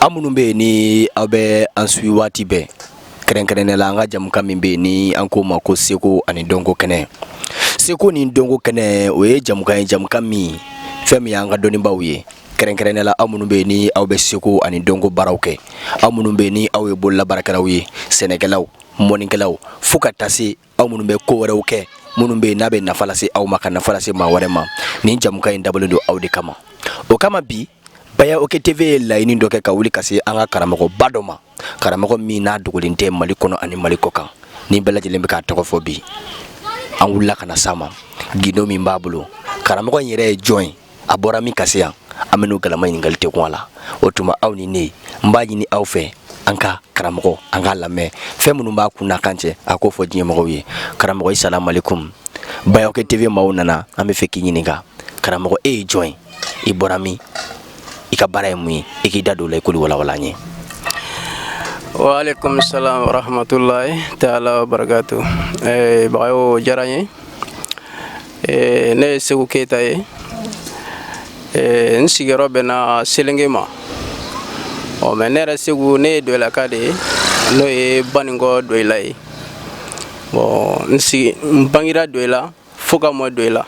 aw minnu bɛ yen ni aw bɛ an suwi waati bɛɛ kɛrɛnkɛrɛnnenya la an ka jamukan min bɛ yen ni an k'o ma ko seko ani dɔnko kɛnɛ seko ni dɔnko kɛnɛ o ye jamukan ye jamukan min fɛn min y'an ka dɔnnibaaw ye kɛrɛnkɛrɛnnenya la aw minnu bɛ yen ni aw bɛ seko ani dɔnko baaraw kɛ aw minnu bɛ yen ni aw ye bololabaarakɛlaw ye sɛnɛkɛlaw mɔnnikɛlaw fo ka taa se aw minnu bɛ ko wɛrɛw kɛ minnu bɛ n'a bɛ nafa lase aw ma ka nafa lase maa wɛrɛ ma nin jamukan in dabɔlen don aw de kama o kama bi baya oke tv ye laɲini dɔ kɛ ka wuli ka se an ka karamɔgɔba dɔ ma karamɔgɔ min n'a dogolen tɛ mali kɔnɔ ani mali kɔ kan ni bɛɛ lajɛlen bɛ k'a tɔgɔ fɔ bi an wulila ka na s'a ma gundo min b'a bolo karamɔgɔ in yɛrɛ ye jɔn ye a bɔra min ka se yan an bɛn'o galama ɲininkali tɛ kun a la o tuma aw ni ne n b'a ɲini aw fɛ an ka karamɔgɔ an k'a lamɛn fɛn minnu b'a kun n'a kan cɛ a k'o fɔ diɲɛmɔgɔw ye karamɔgɔ i salamalekum baya oke tv maaw nana an bɛ fɛ k'i ɲininka karamɔgɔ e ye jɔn ye i bɔra min i ka baara ye mun ye i k'i da don o la i k'olu walawala an ye waaleykum salam warahmatulahi taala wabarakatu eh, bagayo diyara n ye Eh, ne ye seku keyita ye eh, n sigiyɔrɔ bɛnna selenge ma ɔ mɛ ne yɛrɛ seku ne ye doyilaka de ye n'o ye baninkɔ doyila ye bɔn n sigi n bangira doyila fo ka mɔ doyila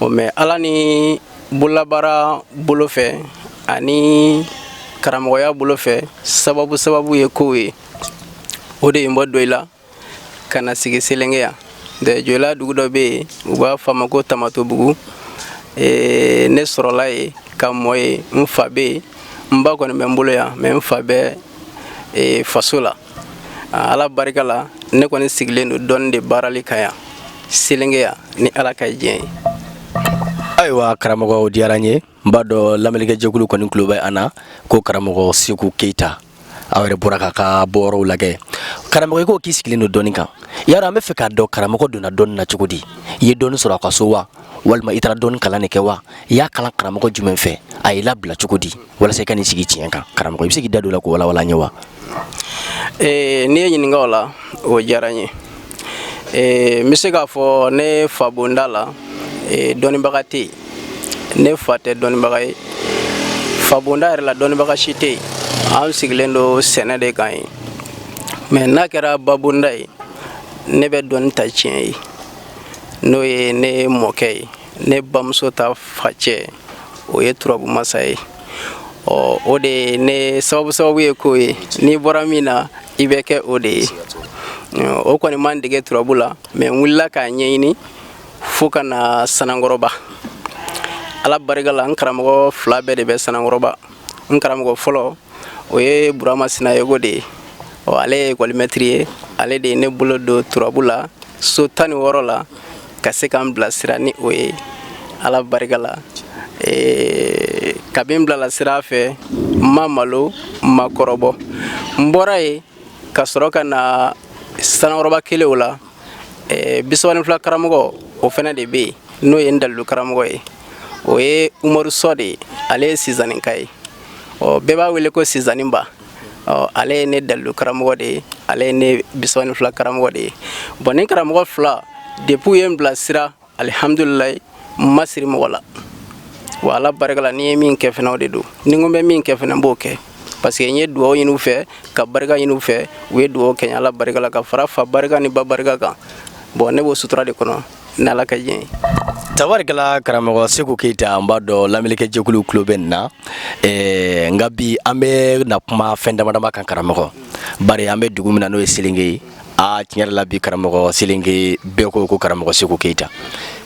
ɔ mɛ ala ni bololabaara bolo fɛ ani karamɔgɔya bolo fɛ sababu sababu ye kow ye o de ye n bɔ doyila ka na sigi selenge yan de joyila dugu dɔ bɛ yen u b'a fɔ a ma ko tamatobugu ee, ne sɔrɔla yen ka mɔ yen n fa bɛ yen n ba kɔni bɛ n bolo yan mɛ n fa bɛ ee, faso la Ah, ala barika la ne kɔni sigilen don dɔnni de baarali kan yan selenge yan ni ala ka diɲɛ ye ayiwa karamɔgɔ o diyara n ye n b'a dɔn lamɛnlikɛjɛkulu kɔni tulo bɛ an na ko karamɔgɔ seku keyita aw yɛrɛ bɔra k'a ka bɔyɔrɔw lajɛ karamɔgɔ i ko k'i sigilen don dɔnni kan yan dɔrɔn an bɛ fɛ k'a dɔn karamɔgɔ donna dɔnni na cogo di i ye dɔnni sɔrɔ aw ka so wa walima i taara dɔnni kalan de kɛ wa i y'a kalan karamɔgɔ jumɛn fɛ a y'i labila cogo di walasa i ka n'i sigi tiɲɛ kan karamɔgɔ i bɛ se k'i da don o la k'o walawala an ye wa. Ee n'i ye n ɲininka o la o diyara n ye. ee n bɛ se k'a fɔ ne fa bonda la ee dɔnnibaga tɛ yen ne fa tɛ dɔnnibaga ye fa bonda yɛrɛ la dɔnnibaga si tɛ yen an sigilen don sɛnɛ de kan yen mɛ n'a kɛra ba bonda ye ne bɛ dɔnni ta tiɲɛ ye n'o ye ne mɔkɛ ye ne bamuso ta facɛ o ye turabu masa ye ɔ o de ye ne sababu sababu ye k'o ye n'i bɔra min na i bɛ kɛ o de ye o kɔni ma n dege turabu la mɛ n wulila k'a ɲɛɲini fo ka na sanankɔrɔba ala barika la n karamɔgɔ fila bɛɛ de bɛ sanankɔrɔba n karamɔgɔ fɔlɔ o ye burama sinayɔkɔ de ye ɔ ale ye ekɔlimɛtiri ye ale de ye ne bolo don turabu la so tan ni wɔɔrɔ la ka se ka n bilasira ni o ye ala barika la ee, kabi n bilala sira fɛ n ma malo n ma kɔrɔbɔ n bɔra ye ka sɔrɔ ka na sanankɔrɔba kelew la ee, bisaba ni fila karamɔgɔ o fɛnɛ de bɛ yen n'o ye n dalilu karamɔgɔ ye o ye umaru sɔ de ye ale ye sizaninka ye ɔ bɛɛ b'a wele ko sizaninba ɔ ale ye ne dalilu karamɔgɔ de ye ale ye ne bisaba ni fila karamɔgɔ de ye bɔn nin karamɔgɔ fila depuis u ye n bilasira alihamdulilayi n ma siri mɔgɔ la wa ala barika la ni n ye min kɛ fɛnɛ o de don ni n ko n bɛ min kɛ fɛnɛ n b'o kɛ parce que n ye dugawu ɲini u fɛ ka barika ɲini u fɛ u ye dugawu kɛ n ye ala barika la ka fara fa barika ni ba barika kan bɔn ne b'o sutura de kɔnɔ N'ala ka jɛn tabarikala karamɔgɔ seku keyita n b'a dɔn lamɛnnikɛjɛkulu tulo bɛ an na nka bi an bɛ na kuma fɛn damadama kan karamɔgɔ bari an bɛ dugu min na n'o ye selenge ye aa tiɲɛ yɛrɛ la bi karamɔgɔ selenge bɛɛ ko ko karamɔgɔ seku keyita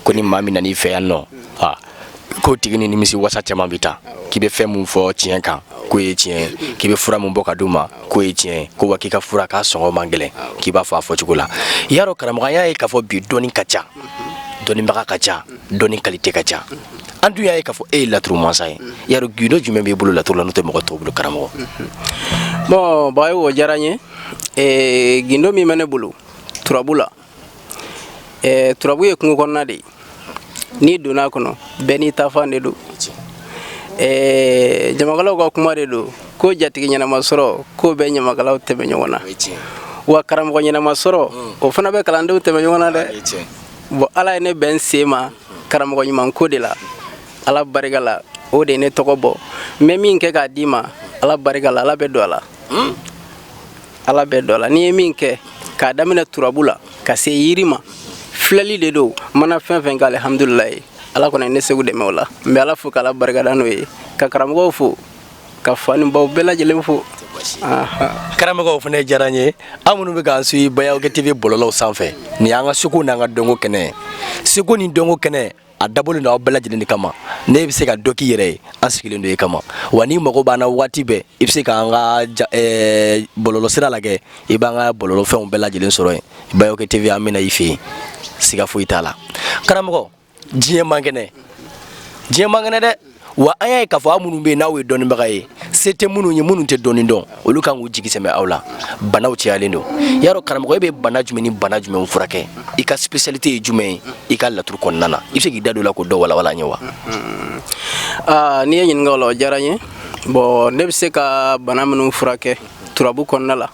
ko ni maa min nana i fɛ yan nɔ k'o tigi ni nimisi wasa caman bɛ taa k'i bɛ fɛn min fɔ tiɲɛ kan k'o ye tiɲɛ k'i bɛ fura min bɔ ka d'u ma k'o ye tiɲɛ ko wa k'i ka fura k'a sɔngɔ man gɛlɛn k'i b'a fɔ a fɔcogo la i y'a dɔn karamɔgɔya ye k'a fɔ bi dɔnni ka ca dɔnnibaga ka ca dɔnni kalite ka ca an dun y'a ye k'a fɔ e ye laturu mansa ye i y'a dɔn gindo jumɛn b'i bolo laturu la n'o tɛ mɔgɔ tɔw bolo karamɔgɔ bɔn bayo o diyara n ye gindo min bɛ ne bolo turabu la ɛɛ turabu ye kungo kɔnɔna de ye n'i donna a kɔnɔ bɛɛ n'i taafan de don ɛɛ ɲamakalaw ka kuma de don ko jatigi ɲɛnama sɔrɔ k'o bɛ ɲamakalaw tɛmɛ ɲɔgɔn na wa karamɔgɔ ɲɛnama sɔrɔ o fana bɛ kalandenw tɛmɛ ɲɔgɔn na dɛ bɔn ala ye ne bɛn sen ma karamɔgɔ ɲuman ko de la ala barika la o de ye ne tɔgɔ bɔ n bɛ min kɛ k'a d'i ma ala barika la ala bɛ don a la ala bɛ don a la n'i ye min kɛ k'a daminɛ turabu la ka se yiri ma filɛli de don mana fɛn fɛn kɛ alihamdulilayi ala kɔni ne seku dɛmɛ o la n bɛ ala fo k'ala barikada n'o ye ka karamɔgɔw fo ka fa ni baw bɛɛ lajɛlen fo karamɔgɔw fana diyara n ye aw minnu bɛ k'an suivre bayoke tv bɔlɔlɔw sanfɛ nin y'an ka seko n'an ka dɔnko kɛnɛ ye seko ni dɔnko kɛnɛ a dabɔlen don aw bɛɛ lajɛlen de kama n'e bɛ se ka dɔ k'i yɛrɛ ye an sigilen don e kama wa n'i mago b'an na waati bɛɛ i bɛ se k'an ka eh, bɔlɔlɔsira lajɛ i b'an ka bɔlɔlɔfɛnw bɛɛ lajɛlen sɔrɔ yen bayoke tv an bɛna i fɛ yen siga foyi t'a la karamɔgɔ diɲɛ man kɛnɛ diɲɛ man kɛnɛ dɛ wa an y'a ye k'a fɔ aw minnu bɛ yen n'aw ye dɔnnibaga ye se tɛ minnu ye minnu tɛ dɔnni dɔn olu kan k'u jigi sɛmɛ aw la banaw cayalen don yarɔ karamɔgɔ e bɛ bana jumɛn ni bana jumɛnw furakɛ i ka spécialité ye jumɛn ye i ka laturu kɔnɔna na i bɛ se k'i da don o la k'o dɔ walawala an ye wa. aa n'i ye n ɲininka o la o diyara n ye bon ne bɛ se ka bana minnu furakɛ turabu kɔnɔna la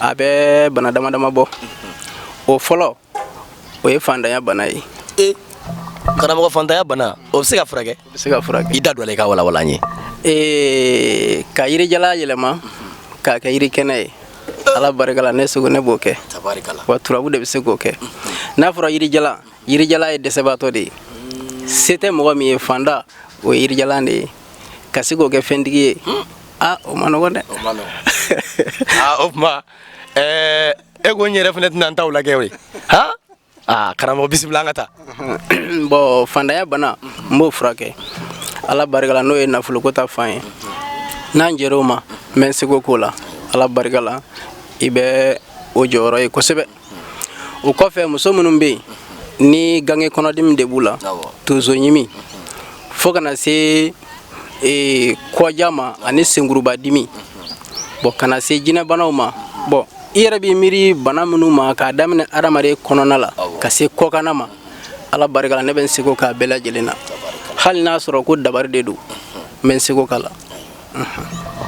a bɛ bana dama dama bɔ o fɔlɔ. o ye fantanya bana ye e karamɔgɔ fantanya bana o bɛ se ka furakɛ o bɛ se ka furakɛ i da don a la i k'a walawala an ye ee ka yirijalan yɛlɛma k'a kɛ yiri kɛnɛ ye ala barika la ne seko ne b'o kɛ wa turabu de bɛ se k'o kɛ n'a fɔra yirijalan yirijalan ye dɛsɛbaatɔ de ye se tɛ mɔgɔ min ye fantan o ye yirijalan de ye ka se k'o kɛ fɛntigi ye a o ma nɔgɔn dɛ o tuma e ko n yɛrɛ fana tɛna n taw lajɛ o ye han aa karamɔgɔ bisimila an ka taa bon fantanya bana n b'o furakɛ ala barika la n'o ye nafoloko ta fan ye n'an jɛra o ma n bɛ n seko k'o la ala barika la i bɛ o jɔyɔrɔ ye kosɛbɛ o kɔfɛ muso minnu bɛ yen ni ganke kɔnɔdimi de b'u la tonso ɲimi fo ka na se ee, kɔja ma ani senkuruba dimi bon ka na se jinɛbanaw ma bon i yɛrɛ b'i miiri bana minnu ma k'a daminɛ adamaden kɔnɔna la ka se kɔkanna ma ala barika la ne bɛ n seko k'a bɛɛ lajɛlen na hali n'a sɔrɔ ko dabari de don n bɛ n seko k'a la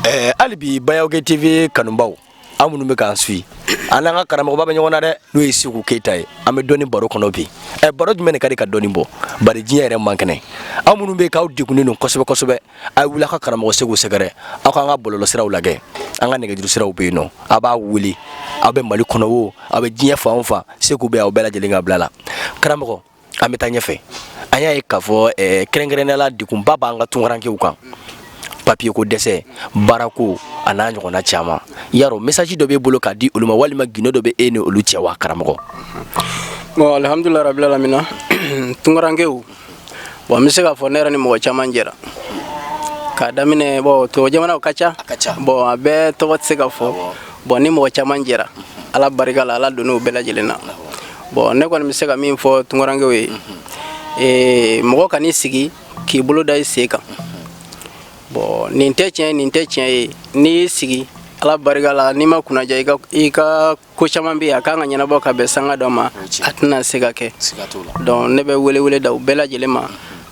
eh, hali bi bayawke tv kanubaw aw minnu bɛ k'an suivi an n'an ka karamɔgɔba bɛ ɲɔgɔn na dɛ n'o ye seku keyita ye an bɛ dɔnni baro kɔnɔ bi ɛ eh, baro jumɛn de ka di ka dɔnni bɔ bari diɲɛ yɛrɛ man kɛnɛ aw minnu bɛ k'aw degunnen don kosɛbɛ kosɛbɛ a wuli ka karamɔgɔ seku sɛgɛrɛ aw k'an ka bɔlɔlɔsiraw lajɛ an ka nɛgɛjurusiraw bɛ yen nɔ a b'a wele aw bɛ mali kɔnɔ wo aw bɛ diɲɛ fan o fan seku bɛ aw bɛɛ lajɛlen ka bila la karamɔgɔ an bɛ taa ɲɛfɛ an y'a ye k'a fɔ eh, kɛrɛnkɛrɛnnenya la degunba b'an ka tunkarankew kan papiye ko dɛsɛ baarako a n'a ɲɔgɔnna caman yarɔ mesaji dɔ b'e bolo k'a di olu ma walima gindo dɔ bɛ e ni olu cɛ wa karamɔgɔ bon alhamdulilayi rabilalamina tunkarankew Bon n bɛ se k'a fɔ ne yɛrɛ ni mɔgɔ caman jɛra k'a daminɛ bon tubabu jamanaw ka ca bon a bɛɛ tɔgɔ tɛ se ka fɔ bon ni mɔgɔ caman jɛra ala barika la ala donn'o bɛɛ lajɛlen na bon ne kɔni bɛ se ka min fɔ tunkarankew ye ee mɔgɔ kan'i sigi k'i bolo da i sen kan bon nin tɛ tiɲɛ nin tɛ tiɲɛ ye n'i y'i sigi ala barika la n'i ma kunnaja i ka i ka ko caman bɛ yen a ka kan ka ɲɛnabɔ ka bɛn sanga dɔ ma a tɛna se ka kɛ donc ne bɛ welewele da u bɛɛ lajɛlen ma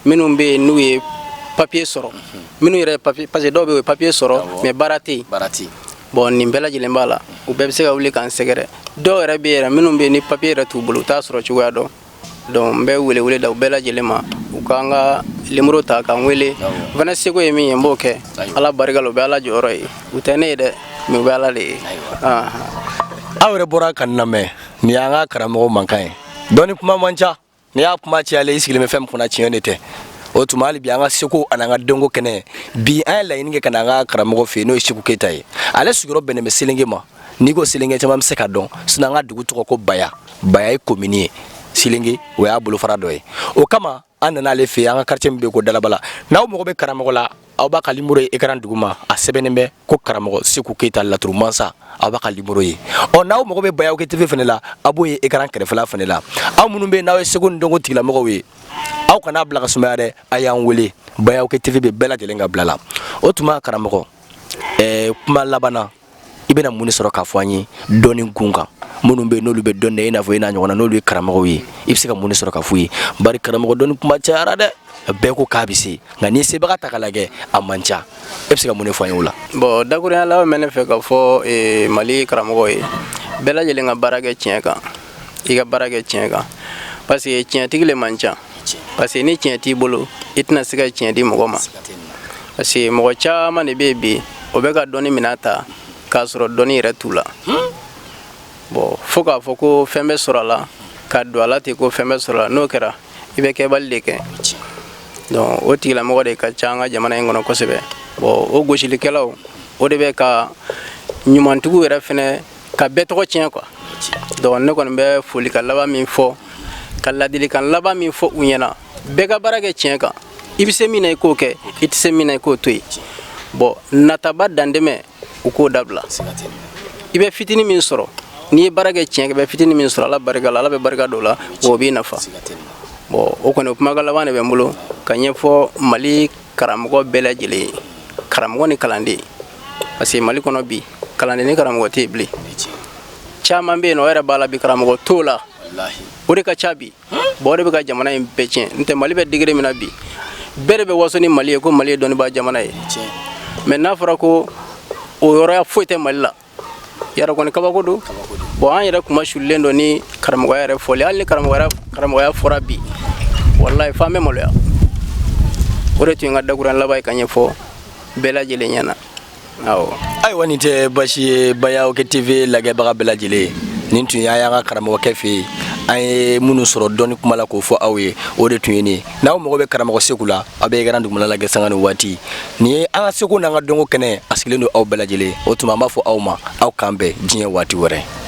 minnu bɛ yen n'u ye papier sɔrɔ minnu yɛrɛ papier parce que dɔw bɛ yen u ye papier sɔrɔ mais baara tɛ yen bon nin bɛɛ lajɛlen b'a la u bɛɛ bɛ se ka wuli k'an sɛgɛrɛ dɔw yɛrɛ bɛ yɛrɛ minnu bɛ ni papier yɛrɛ t'u bolo u t'a sɔrɔ cogoya dɔn Donc n bɛ wele wele da u bɛɛ lajɛlen ma u k'an ka nimoro ta k'an wele u fana seko ye min ye n b'o kɛ ala barika la u bɛ ala jɔyɔrɔ ye u tɛ ne ye dɛ mais u bɛ ala de ye aw yɛrɛ bɔra ka nin lamɛn nin y'an ka karamɔgɔ mankan ye dɔnni kuma man ca n'i y'a kuma cayalen i sigilen bɛ fɛn min kunna tiɲɛ de tɛ o tuma hali bi an ka seko an'an ka dɔnko kɛnɛ bi an ye laɲini kɛ ka na an ka karamɔgɔ fɛ yen n'o ye seku keyita ye ale sigiyɔrɔ bɛnnen bɛ selenge ma n'i ko selenge caman bɛ se ka dɔn sinon an ka dugu tɔgɔ ko baya baya ye komini ye selenge o y'a bolofara dɔ ye o kama an nana ale fɛ an ka quartier min bɛ yen ko dalabala n'aw mago bɛ karamɔgɔ la aw b'a ka nimoro ye ekran duguma a sɛbɛnnen bɛ ko karamɔgɔ seku keyita laturu mansa aw b'a ka nimoro ye ɔ n'aw mago bɛ bayaw kɛ tv fana la aw b'o ye ekran kɛrɛfɛla fana la aw minnu bɛ yen n'aw ye seko ni dɔnko tigilamɔgɔw ye aw kana bila ka sumaya dɛ a y'an wele bayaw kɛ tv bɛ bɛɛ lajɛlen ka bila la o tuma karamɔgɔ ɛɛ kuma laban na i bɛna mun de sɔrɔ k'a fɔ an ye dɔnni kun kan minnu bɛ n'olu bɛ dɔn dɛ i n'a fɔ i n'a ɲɔgɔnna n'olu ye karamɔgɔw ye i bɛ se ka mun de sɔrɔ k'a f'u ye bari karamɔgɔ dɔnni kuma cayara dɛ bɛɛ ko k'a bɛ se nka n'i sebaga ta k'a lajɛ a man ca e bɛ se ka mun de fɔ an ye o la. bon dakuruya laban bɛ ne fɛ ka fɔ eh, mali karamɔgɔ ye bɛɛ lajɛlen ka baara kɛ tiɲɛ kan i ka baara kɛ tiɲɛ kan parce que tiɲɛtigi le man ca parce que ni tiɲɛ t'i bolo i tɛna se ka tiɲɛ di mɔgɔ ma parce que mɔgɔ caman de bɛ yen bi o bɛ ka dɔnni minɛn ta k'a sɔrɔ dɔnni yɛrɛ t'u la bon fo k'a fɔ ko fɛn bɛ sɔrɔ a la ka don a la ten ko fɛn bɛ sɔrɔ a la n'o kɛra i bɛ kɛbali de kɛ donc o tigilamɔgɔ de ka ca an ka jamana in kɔnɔ kosɛbɛ bon o gosilikɛlaw o de bɛ ka ɲumantigiw yɛrɛ fɛnɛ ka bɛɛ tɔgɔ tiɲɛ quoi donc ne kɔni bɛ folikan laban min fɔ ka ladilikan laban min fɔ u ɲɛna bɛɛ ka baara kɛ tiɲɛ kan i bɛ se min na i k'o kɛ i tɛ se min na i k'o to yen bon nataba dantɛmɛ u k'o dabila i bɛ fitini min sɔrɔ n'i ye baara kɛ tiɲɛ kan i bɛ fitini min sɔrɔ ala barika la ala bɛ barika don o la o b'i nafa bon o kɔni kumakan laban de bɛ n bolo ka ɲɛfɔ mali karamɔgɔ bɛɛ lajɛlen ye karamɔgɔ ni kalanden parce que mali kɔnɔ bi kalanden ni karamɔgɔ tɛ yen bilen caman bɛ yen n'o yɛrɛ b'a la bi karamɔgɔ t'o la o de ka ca bi bon o de bɛ ka jamana in bɛɛ tiɲɛ n tɛ mali bɛ degré min na bi bɛɛ de bɛ waso ni mali ye ko mali ye dɔnnibaa jamana ye mais n'a fɔra ko o yɔrɔya foyi tɛ mali la yɛrɛ kɔni kabako don bon an yɛrɛ kunmasulilen don ni karamɔgɔya yɛrɛ fɔli hali ni karamɔgɔya fɔra bi walayi f'an bɛ maloya o de tun ye n ka dakuruya laban ye ka ɲɛfɔ bɛɛ lajɛlen ɲɛna awɔ ayiwa nin tɛ basi ye bayaw kɛ tv lagɛbaga bɛɛ lajɛlen ye nin tun y'a y'an ka karamɔgɔkɛ fɛ yen an ye minnu sɔrɔ dɔnni kuma la k'o fɔ aw ye o de tun ye nin ye n'aw mago bɛ karamɔgɔ seku la aw bɛ ekran dugumana lagɛ sanga ni waati nin ye an ka seko n'an ka dɔnko kɛnɛ a sigilen don aw bɛɛ lajɛlen o tuma an b'a fɔ aw ma aw k'an bɛn diɲɛ waati wɛrɛ